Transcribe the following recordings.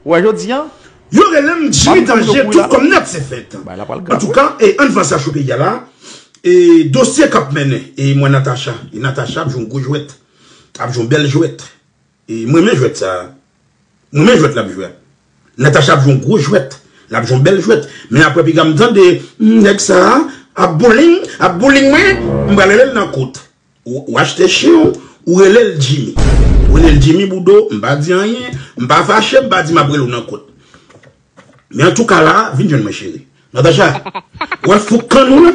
Ou wè jodi an? Yo relem jimmy danje tout kòm nèt se fèt antouka e ann fasa chou peyi a la e dosye kap mennen e mwen natacha e natacha ap jwe yon gwo jwèt ap jwe yon bèl jwèt e mwen renmen jwèt sa mwen renmen jwèt lap jwe a natacha ap jwe yon gwo jwèt lap jwe yon bèl jwèt men aprè piga m tande nèg sa ap bouling ap bouling mwen m pral relel nan kout Ou achte chen w, ou rele l Jimmy. Ou rele l Jimmy Boudon, m pa di anyen, m pa fache, m pa di m ap rele w nan kot. Men antouka la, vin jwenn mwen cheri. Natacha, ou wè fouk kann ou la?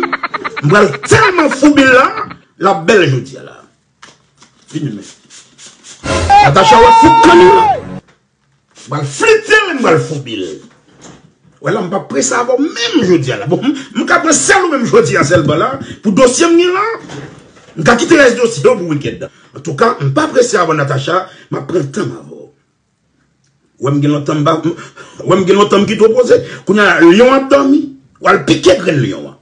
M pral tèlman foubi l la, l ap bèl jodi a la. Vin jwenn mwen. Natacha, ou wè fouk kann ou la? M pral flite l, m pral foubi l. Ou wè la m pa prese avè w menm jodi a la. Bon, m ka pran sèl ou menm jodi a sèlman la pou dosye m gen la. M ka kite rès dosye yo pou wikèn nan. Antouka, m pa prese avè w Natacha, m ap pran tan m avè w. Ou wè m gen lontan m pa, ou wè m gen lontan m kite w poze. Kounya la, lyon an ap dòmi, w al pike grenn lyon an.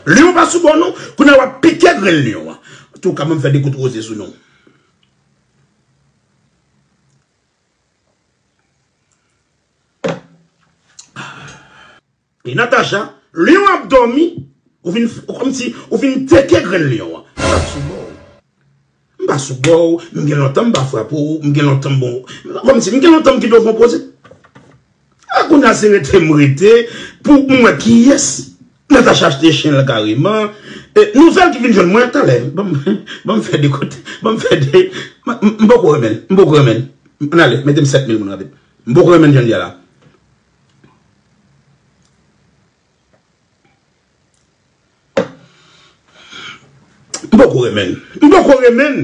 Lyon an pa sou bò w non, kounya w ap pike grenn lyon an. Antouka, ban m fè de kout roze sou nou. Epi Natacha, Lion ap dòmi, ou vin kòmsi ou vin teke grenn Lion an. M pa sou bò ou. M pa sou bò ou, m gen lontan m pa frape ou, m gen lontan m bon. Kòmsi m gen lontan m gen devon poze. Ah kounya se rete m rete pou m wè kiyès Natacha achte chen l kareman Nouvèl ki vin jwenn mwen talè Ban m fè de kote Ban m fè de M poko renmen l M poko renmen l An n ale mete m 7 mil moun rapid M poko renmen l jan l ye a la M poko renmen l M poko renmen l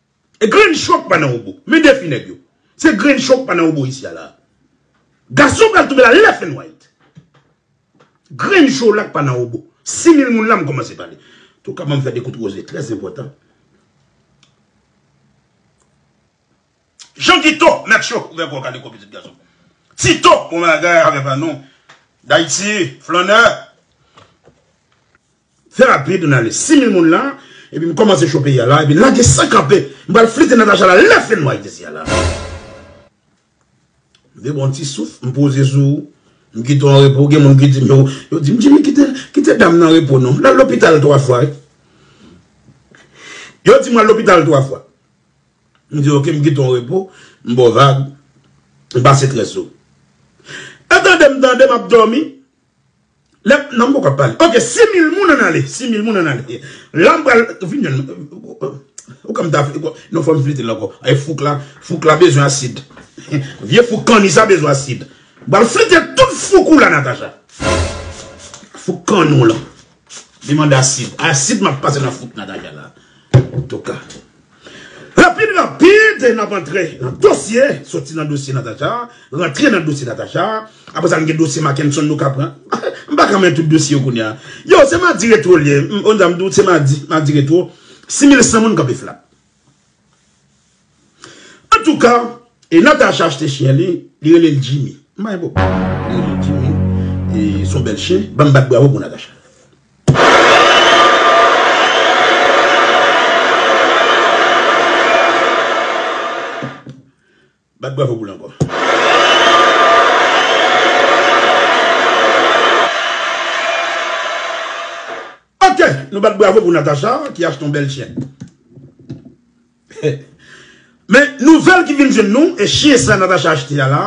Grenn chòk pa nan obo. Men defi nèg yo. Se grenn chòk pa nan obo isi a la a. Gason pral tonbe la left and right. Grenn cholak pa nan obo. Si mil moun la m kòmanse pale. Touka banm fè de kout roze trè enpòtan. Jean Guito mèt cho ouvè kò w kale kò pitit gason. Tito bon bagay avè pa nou. Dayiti flannè. Therapy Donalis 6000 moun la epi m komanse show peyi a la epi lage san kanpe m pral flite Natacha la lè fenwa izizi a la m de bon ti souf m poze sou ou m kite w anrepo gen moun ki di m yo yo di m Jimmy kite kite dam nan anrepo non lal lopital 3 fwa wi yo di m al lopital 3 fwa m di ok m kite w anrepo m ba w vag m pase trè sou ou e tande m tande m ap domi. Lèm nan m poko ap pale. Ok 6000 moun an ale. 6000 moun an ale. La m pral vin jwenn nou. Ou ka m ta fè. Non fò m flite l ankò. Ay fouk la. Fouk la bezwen asid. Vye fouk kanni sa bezwen asid. M pral flite tout fouk ou la Natacha. Fouk kanni w lan. Li mande asid. Asid map pase nan fout Natacha la. Antouka. Rapid rapid nap antre nan dosye. Soti nan dosye Natacha. Rantre nan dosye Natacha. Apre sa nou gen dosye Makenson nou ka pran. M pa ka men tout dosye yo kounye a. Yo se madi retro li ye. Oun zam di w se madi. Madi retro. 6100 moun kanpe flat. Antouka, e Natacha achte chyen li, li rele l Jimmy. M pa gen pwoblèm. Li rele l Jimmy. E s on bèl chyen. Ban m bat bravo pou Natacha. Bat bravo pou l ankò. Ok! Nou bat bravo pou Natacha ki achte yon bèl chyen. Men nouvèl ki vin jwenn nou e chyen sa Natacha achte a la,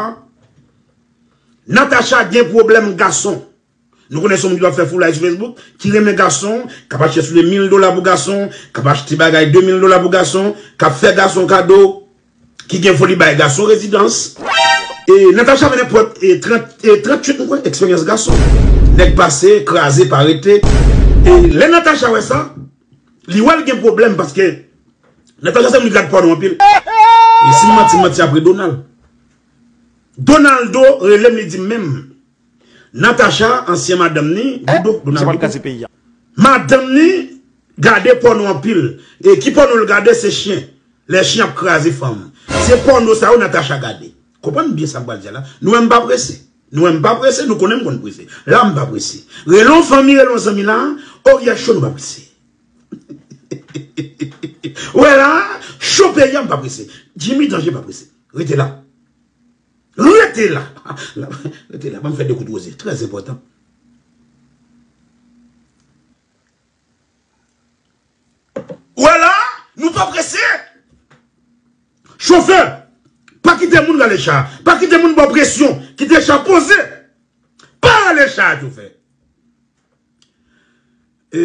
Natacha gen pwoblèm gason. Nou konnen son moun ki pa fè foulay sou Facebook, ki renmen gason, k ap achte soulye 1000 dola pou gason, k ap achte bagay 2000 dola pou gason, k ap fè gason kado, ki gen foli bay gason rezidans. E Natacha vin apre 38 mwen kwè eksperyans gason. Nèg pase, kraze, pa rete. E lè Natacha wè sa. Li wèl gen problème paske Natacha se moun ki gad pòno anpil e sim manti manti ap re Donald Donaldo relem li dim menm Natacha ansyen madanm ni Dodo Donaldo madanm ni gade pòno anpil e ki pòno l gade se chyen lè chyen ap kraze fanm se pòno sa yo Natacha gade Konprann byen sa m pral di a la. Nou wè m pa prese? Nou wè m pa prese? Nou konnen m konn prese. La m pa prese. Rele yon fanmi, rele yon zanmi la a, o yè cho nou pa prese. Ou wè la a, cho peyi a m pa prese. Jimmy Danje pa prese. Rete la. Rete la. Rete la. Ban m fè de kout woze. Trè zenpòtan. Ou wè la a, nou pa prese. Chofè, pa kite moun rale cha a. Pa kite moun ba w presyon. Kite cha a poze. Pa rale cha a, chofè. E,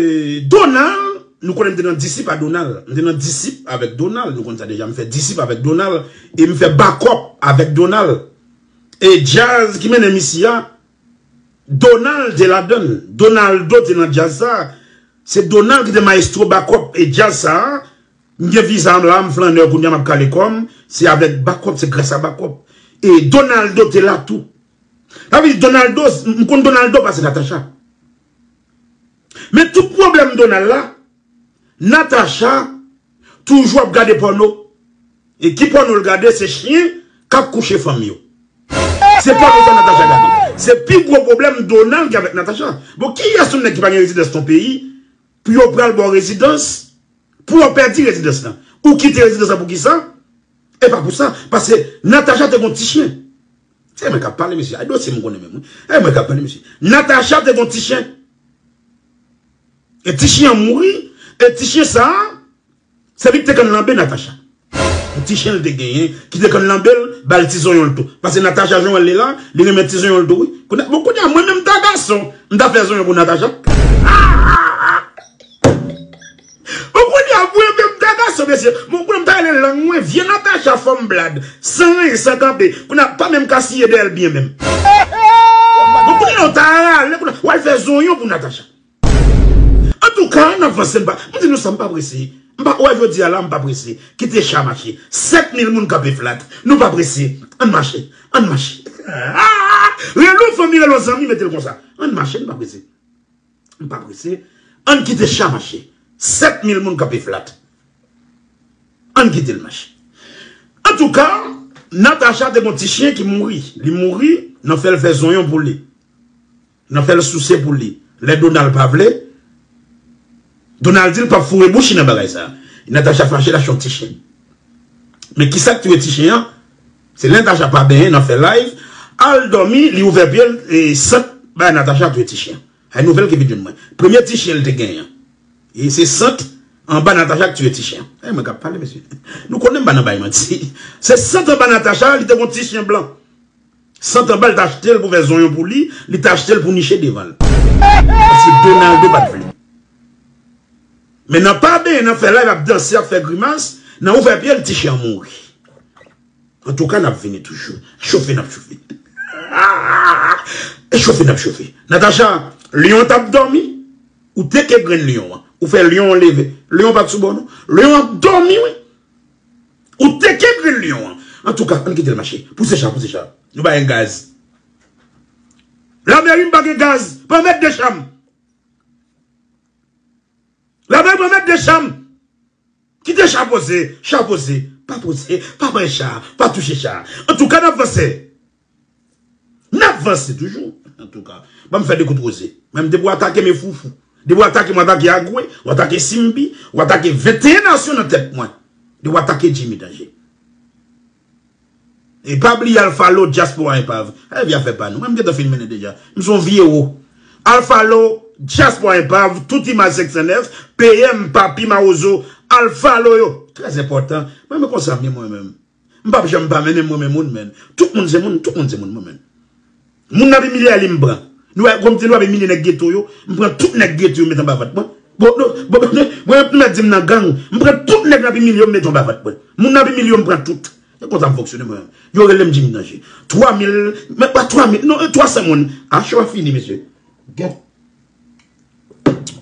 Donald, nou konnen m te nan disip a Donald. M te nan disip avèk Donald. Nou konnen sa deja. M fè disip avèk Donald. E m fè bakòp avèk Donald. E djaz ki mennen m isi a, Donald te ladann. Donaldo te nan djaz sa. Se Donald ki te maestro Bakòp e djaz sa. M gen viza m la, m flannè kounya m ap kale kò m. Se avèk Bakòp, se gras a Bakòp. E Donaldo te la tou. Sa vle di Donaldo, m konn Donaldo pase Natacha. Men tout pwoblèm Donald la. Natacha toujou ap gade pòno e ki pòno l gade se chyen kap kouche fanm yo se pòno sa Natacha gade se pi gwo pwoblèm Donald gen avèk Natacha bon kiyès yon nèg ki pa gen rezidans nan peyi pou yo pral baw rezidans pou wap pèdi rezidans lan ou kite rezidans lan poukisa e pa pou sa paske Natacha te gon ti chyen se mwen kap pale mesye ay dosye m konnen menm wi e mwen kap pale mesye Natacha te gon ti chyen. E ti chien an mouri e ti chien sa se li ki te konn lanbe Natacha. Yon ti chien li te genyen ki te konn lanbe l ba l ti zonyon l tou. Pase Natacha jan w wè l li la, li renmen ti zonyon l tou wi. Bon kounye a mwen menm m ta gason m ta fè zonyon pou Natacha. Bon kounye a mwen menm m ta gason mesye bon kounye a m ta rele lang mwen vye Natacha fanm blad san ranyen san kanpe kounye a pa menm ka siye dèyè l byen menm. Bon kounye a w ta rale kounye a w al fè zonyon pou Natacha. Antouka, n ap vanse. M di nou sa, m pa prese. M pa wè jodi a la, m pa prese. Kite cha mache. 7000 moun kanpe flat. Nou pa prese. Ann mache. Ann mache. Relo fanmi, relo zanmi, mete l konsa. Ann mache, n pa prese. M pa prese. Ann kite cha mache. 7000 moun kanpe flat. Ann kite l mache. Antouka, Natacha te gon ti chyen ki mouri. Li mouri, nan fè l fè zonyon pou li. Nan fèl souse pou li. Lè Donald pa vle Donald dil pap foure bouch li nan bagay sa. Natacha fache lache yon ti chen. Men kisak touye ti chen an se lè Natacha pa benyen nan fè live al dòmi li ouvè pyel sant bay Natacha touye ti chen. Ay nouvèl ki vin jwenn mwen. Premye ti chen li te genyen an e se sant anba Natacha ki touye ti chen. E mwen kap pale mesye. Nou konnen m pa nan bay manti. Se sant anba Natacha li te gon ti chen blan. Santanbal t achte l pou fè zonyon pou li, li t achte l pou niche devan l. Paske Donaldo pa t vle. Men nan pa benyen, nan fè live, ap danse, ap fè grimas, nan ouvè pye l, ti chè an mouri. Antouka n ap vini toujou. Chofe n ap chofe. Chofe n ap chofe. Natacha, lyon an t ap dòmi, ou teke grenn lyon an. Ou fè lyon an leve. Lyon an pa t sou bò non. Lyon an ap dòmi wi. Ou teke grenn lion an. Antouka ann kitel mache. Pouse cha pouse cha. Nou ba yon gaz. Lamerim pa gen gaz. Pran met de cham. Lamerim pran met de cham. Kite cha poze. Cha poze. Pa poze. Pa pran cha. Pa touche cha. Antouka nap vanse. Nap vanse toujou antouka. Banm fè de kout roze. Menm depi w atake me foufou. Depi w atake m w atake Agwe, w atake Simbi, w atake 21 nasyon nan tèt mwen. Depi w atake Jimmy Danger. E pa bliye Alpha Law Diaspora Enpav. Epi a fè pa nou. Mwen m gentan fin mennen deja. M son vye wo. Alpha Law Diaspora Enpav, tout imaj 509, PM, Papi, Mawozo, Alpha Law yo. Trè enpòtan. Mwen m konsa m ye mwen menm. M pap janm pa mennen m renmen moun menn tout moun se moun tout moun se moun mwen menn moun nan ap imilye ale m pran nou wè konbyen nou ap imilye nèg geto yo m pran tout nèg geto yo m met anba vant mwen bon nou bon nou mwen yo t mèt di m nan gang m pran tout nèg nap imilye yo m met yo anba vant mwen moun nap imilye yo m pran tout se konsa m fonksyone mwen yo rele m jimmy danje 3 mil menm pa 3 mil non 300 moun a cho a fini mesye bon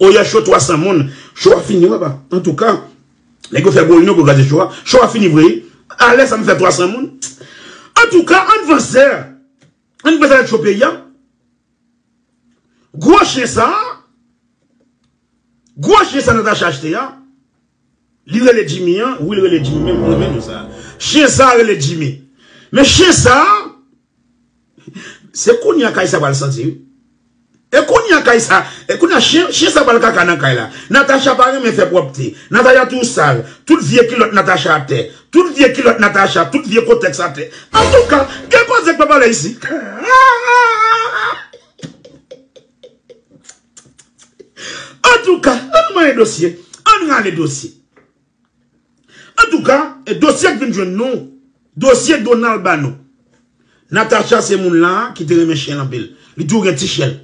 oyè cho 300 moun cho a fini wè pa antouka. Nèg yo fè gwo reyinyon pou kraze show a. Show a fini vre. A lè sa m fè 300 moun. Antouka ann vanse. Ann vanse avèk show peyi a. Gwo chyen sa a. Gwo chyen sa Natacha achte a. Li rele Jimmy an. Wi li rele Jimmy menm. Mwen renmen non sa a. Chyen sa a rele Jimmy. Men chyen sa a. Se kounya kay sa pral santi wi. E kounya kay sa, e kounya chyen sa pral kaka nan kay la. Natacha pa renmen fè pwòpte. Natacha toujou sal. Tout vye kilòt Natacha atè. Tout vye kilòt Natacha, tout vye kotèks atè. Antouka, gen koze k pa pale isi. Antouka, ann manyen dosye. Ann rale dosye. Antouka e dosye k vin jwenn nou dosye Donald ba nou Natacha se moun la ki te renmen chen l anpil li toujou gen ti chen l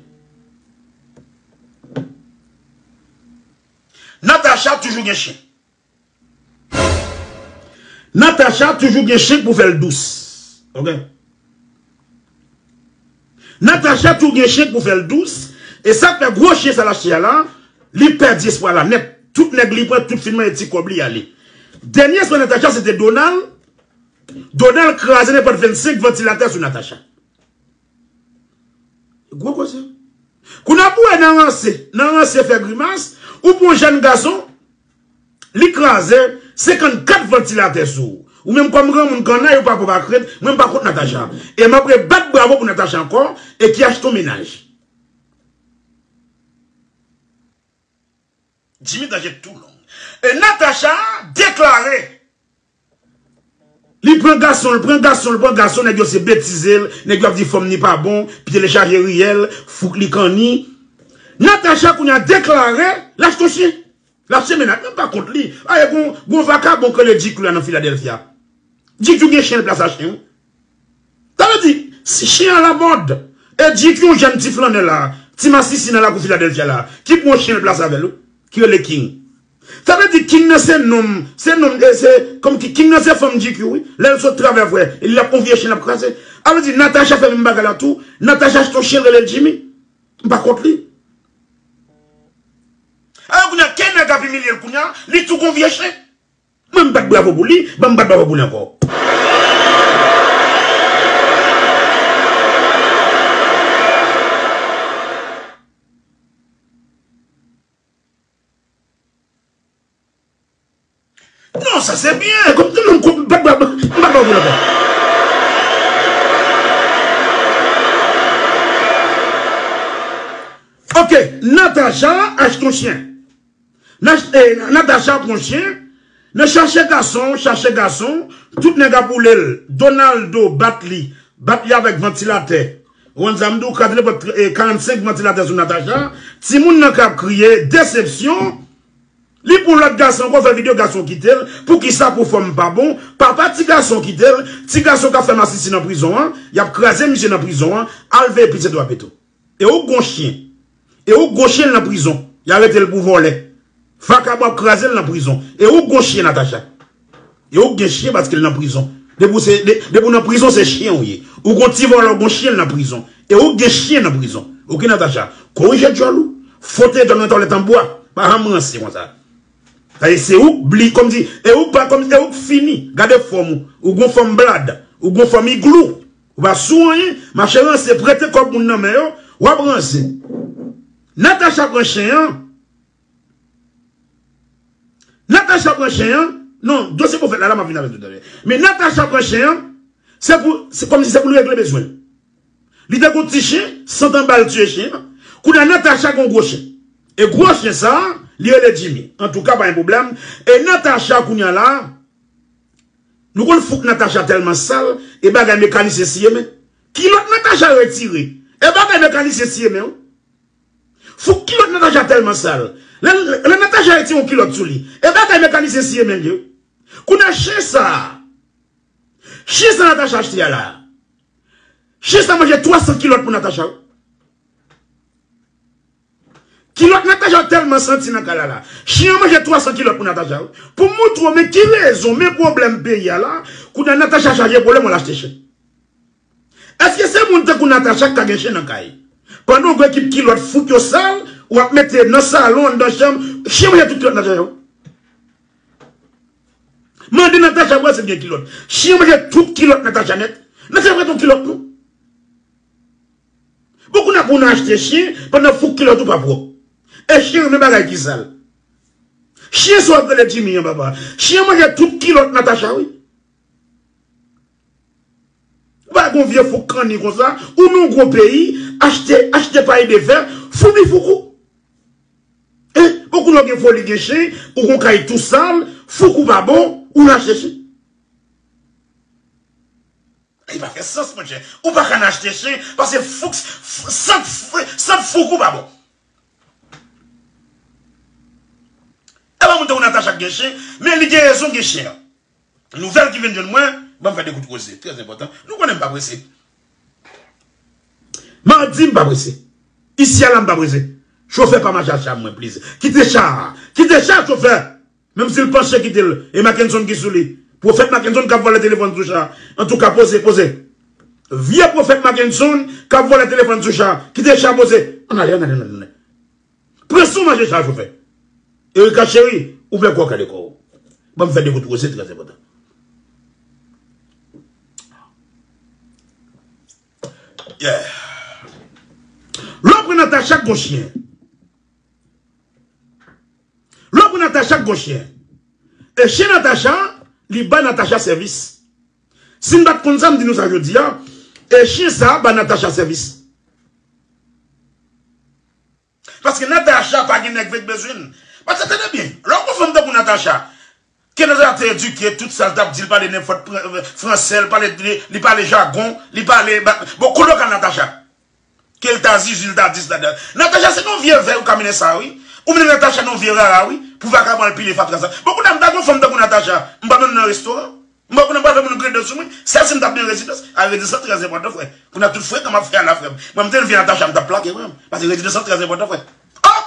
Natacha toujou gen chen Natacha toujou gen chen k pou fè l dous ok. Natacha tou gen chen pou fèl dous e sak fè gwo chen sal achte a la li pèdi espwa la nèt tout nèg li pran tout fin manyen ti kòb li ale dènye espwa Natacha se te Donald Donald kraze nenpòt 25 vantilatè sou Natacha gwo koze kou nap wè nan ranse nan ranse fè grimas ou pran jèn gason. Li kraze 54 vantilatè sou ou menm kòm granmoun kannay ou pa pwòp ak rent mwen m pa kont Natacha e map re bat bravo pou Natacha ankò e ki achte yon mennaj. Jimmy danje tou long. E Natacha deklare. Li pran gason l pran gason l pran gason nèg yo se betize l nèg yo ap di fòm ni pa bon pye l chaje riyèl fouk li kanni Natacha kounye a deklare l achte yon chyen l achte mennaj mwen pa kont li ayè gon gon vakabon k rele GQ a nan Philadelphia GQ gen chyen l plas a chyen wi sa vle di si chyen an alamòd e GQ yon jèn ti flannè la ti masisi nan lakou Philadelphia la ki pran yon chyen l plas avè l wi ki rele King Sa vle di king nan se nom se nom e se kòm ki king nan se fanm GQ wi lèl sot travè vre e li ap on vye chen lap kraze a vle di Natacha fè menm bagay la tou Natacha achte on chen relel Jimmy m pa kont li alò kounya ke nèg ap imilyel kounya li tou gon vye chen mwen m bat bravo pou li banm bat bravo pou li ankò. Non sa se byen kom tout moun kont mpa bab mpa bab la bab. Ok Natacha achte yon chyen Natacha pran yon chyen nan chache gason chache gason tout nèg ap woulel Donaldo bat li bat li avèk vantilatè. Juan sa m di w 4 repòt 45 vantilatè sou Natacha, timoun nan kap kriye, desepsyon, li pou lòt gason ankò fè video gason kite l, poukisa pou fanm pa bon, papa ti gason kite l, ti gason kap fè masisi nan prizon an, yap kraze misye nan prizon an, al veye pitit wap e tou. E ou k gon chyen. E ou gwo chyen nan prizon. Y arete l pou vòlè. Vakabon ap kraze l nan prizon. E ou gwo chyen Natacha. E ou k gen chyen paske l nan prizon. Depi w nan prizon se chyen ou ye. Ou gon ti vòlè ou gon chyen l nan prizon. E ou k gen chyen nan prizon. Ok Natacha. Korije djòl ou. Fwote djòl ou nan tòlèt an bwa. Pa janm ranse konsa. Paske se ou k bli kòmsi. E ou k fini. Gade fòm ou. Ou gon fòm blad. Ou gon fòm iglou. Ou pa sou anyen mache ranse prete kob moun nan men yo wap ranse Natacha pran chen an Natacha pran chen an non dosye pwofèt la la map vin avèl tout alè men Natacha pran chen an se pou se kòmsi se poul regle bezwen li te gon ti chen santan bal tiye chen an kounye Natacha gon gwo chen e gwo chen sa li rele Jimmy antouka pa gen pwoblèm e Natacha kounye la Nou konn fouk Natacha telman sal e bagay mekanisyen siye men kilot Natacha retire e bagay mekanisyen siye men wi fouk kilot Natacha telman sal lè Natacha retire yon kilot sou li e bagay mekanisyen siye men li wi kounye a chen sa chen sa Natacha achte a la chen sa manje 300 kilot pou Natacha wi. Kilòt Natacha tèlman santi nan kay la la. Chyen an manje 300 kilòt pou Natacha wi. Pou m montre w men ki rezon, men pwoblèm peyi a la, kounye a Natacha chaje pwoblèm al achte chen. Èske se moun tankou Natacha k ka gen chen nan kay? Pandan w gou ekip kilòt fout yo sal, w ap mete nan salon, anndan chanm, chyen manje tout kilòt Natacha yo. Mande Natacha pou wè si l gen kilòt. Chyen manje tout kilòt Natacha nèt. Natacha pa gen yon kilòt non. Bon kounya pou nan achte chyen pandan fouk kilòt ou pa pwòp. E chyen renmen bagay ki sal. Chyen sa wap rele Jimmy an papa. Chyen manje tout kilòt Natacha wi. Ou pa wè gon vye fouk kanni konsa, ou nan yon gwo peyi, achte, achte pay de fè, foubi fouk ou. E, bon kounya ou gen foli gen chyen, ou gon kay tou sal, fouk ou pa bon, ou nan achte chyen. Li pa fè sans monchè. Ou pa ka nan achte chen paske fouks sant sant fouk ou pa bon. E pa moun tankou Natacha k gen chen, men li gen rezon gen chen an. Nouvèl ki vin jwenn mwen, ban m fè 2 kout koze, trè enpòtan. Nou konnen m pa prese. Mardi m pa prese. Isi a la m pa prese. Chofè pa mache ak cha mwen pliz. Kite cha a. Kite cha a chofè. Menm sil panche kitel e makenson ki souli. Profèt makenson kap vòlè telefòn sou cha antouka poze poze. Vye profèt makenson kap vòlè telefòn sou cha kite cha poze an ale an ale an ale. Pran son mache cha chofè. Erika cheri ouvè kòw kale kòw banm fè de kout roze trè enpòtan. Yeah. Lè w pran Natacha gwo chyen. Lò pou Natacha k gon chyen. E chyen Natacha a li bay Natacha sèvis. Si m pa t konn sa m di nou sa jodi a, e chyen sa a bay Natacha sèvis. Paske Natacha pa gen nèg vek bezwen l. Paske tande byen, lò w gon fanm tankou Natacha, Kenza te eduke tout sal tap di li pale nenpòt fransè li pale jagon li pale bon koulè ka Natacha kel ta zuzu li ta dis la dan Natacha se nan vye vè ou kamine sa wi ou mennen Natacha nan vye rara wi pou vakabon al pile fatra sa bon kounye mta gon fanm tankou Natacha mpa menm nan restoran mpa kounye mpa fè moun grede sou mwen sèl sim tap nan yon rezidans a rezidans lan trè enpòtan frè kounye tout frekan map fè a la frèm mwen mte leve Natacha mtap plake frèm pase rezidans lan trè enpòtan frè oh.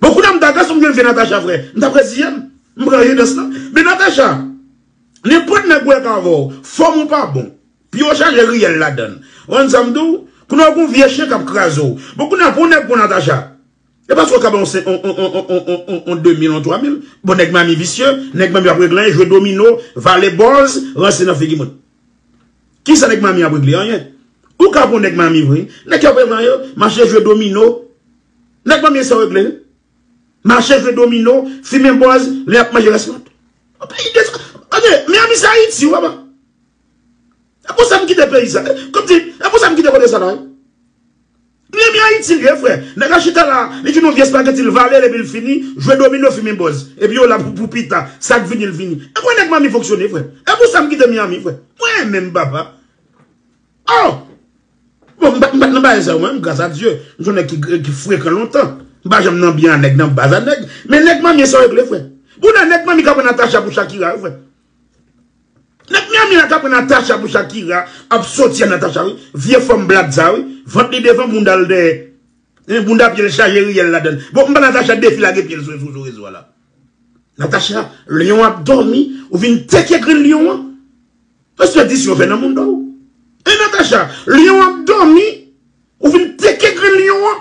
Bon kounya m ta gason m gen vye Natacha vre m tap reziyen m m pran ri dans lan men Natacha nenpòt nèg wè k avè w fòm ou pa bon pye w chaje riyèl ladan l ou konn sa m di w kounya w gon vye chen kap kraze w bon kounya pou w nèg pou Natacha e paske w ka bay on demil on twa mil bon nèg manmi visye nèg manmi ap reglen jwe domino vale bòz ranse nan figi moun. Kisa nèg mami ap regle? Anyen. Ou ka pran nèg mami vre. Nèg yo pran yo, mache jwe domino. Nèg mami sa yo regle? Mache jwe domino, fimen bòz, lè y ap manje rès lant. Anyen, Miami se Ayiti ou apa? E pou sa m kite peyi sa? Kòm di, e pou sa m kite kote sa la? M renmen ayiti li ye frè. Nèg la chita la li vin yon vye spageti l vale l epi l fini jwe domino fimen bòz epi yo la pou pita sa k vini l vini e kwen nèg manmi fonksyone frè e pou sa m kite miami frè mwen renmen m papa oh bon m pat nan bagay sa yo mwen menm gras a Dye m son nèg ki frekan lontan m pa janm nan byen a nèg nan baza nèg men nèg manmie sa yo ekle frè bouda nèg manmi k aprann Natacha pou Shakira yo frè Nèg Miami a ka pran Natacha pou Shakira ap soti a Natacha wi, vye fanm blat sa wi, vant li devan boundal dèyè, hein bounda pyel chaje riyèl ladann, bon m'pa Natacha defi lage pyel sou sou rezo a la. Natacha Lion ap dòmi ou vin teke grenn Lion an Respè di si yo fè nan moun dow Hein Natacha Lion ap dòmi ou vin teke grenn Lion an.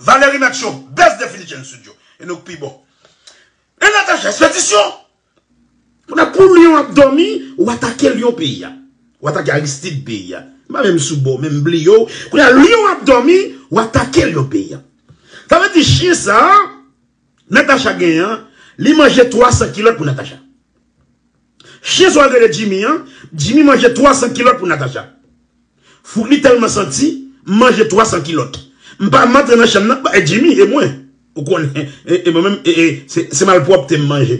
Valery Maxio best definition studio e nou k pi bon e Natacha espedisyon. Kounye a pou Lyon ap dòmi ou atake Lyon peyi a ou atake Aristide peyi a m pa menm sou bò menm m bliye w kounye a Lyon ap dòmi ou atake Lyon peyi a sa vle di chyen sa Natacha genyen an li manje 300 kilòt pou Natacha. Chien sa rele Jimmy an, Jimmy manje 300 kilòt pou Natacha. Fout li tèlman santi, manje 300 kilòt. M pa antre nan chanm nan, ba e Jimmy e mwen. Ou konnen, e mwen menm e se malpwòpte m manje.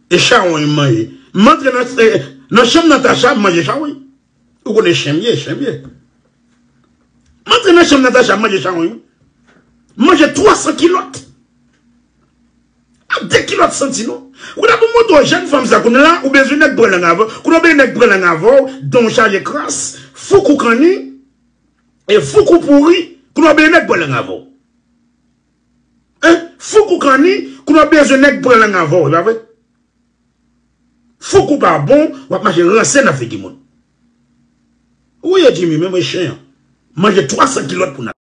E chawony m manje. M antre nan chanm Natacha, m manje chawony. Ou konnen chien m ye, chien m ye. M antre nan chanm Natacha, m manje chawony. M manje 300 kilòt. Ap de kilòt santi nou. Koulya pou mwen to jèn fanm sa kounye la ou bezwen nèg pran lang avèw kounye ou bezwen nèg pran lang avèw danw chaje kras fouk ou kanni e fouk ou pouri kounye ou bezwen nèg pran lang avèw hein fouk ou kanni kounye ou bezwen nèg pran lang avèw epa vre fouk ou pa bon wap mache ranse nan figi moun ou ye Jimmy menm e chen an manje 300 kilòt pou nan.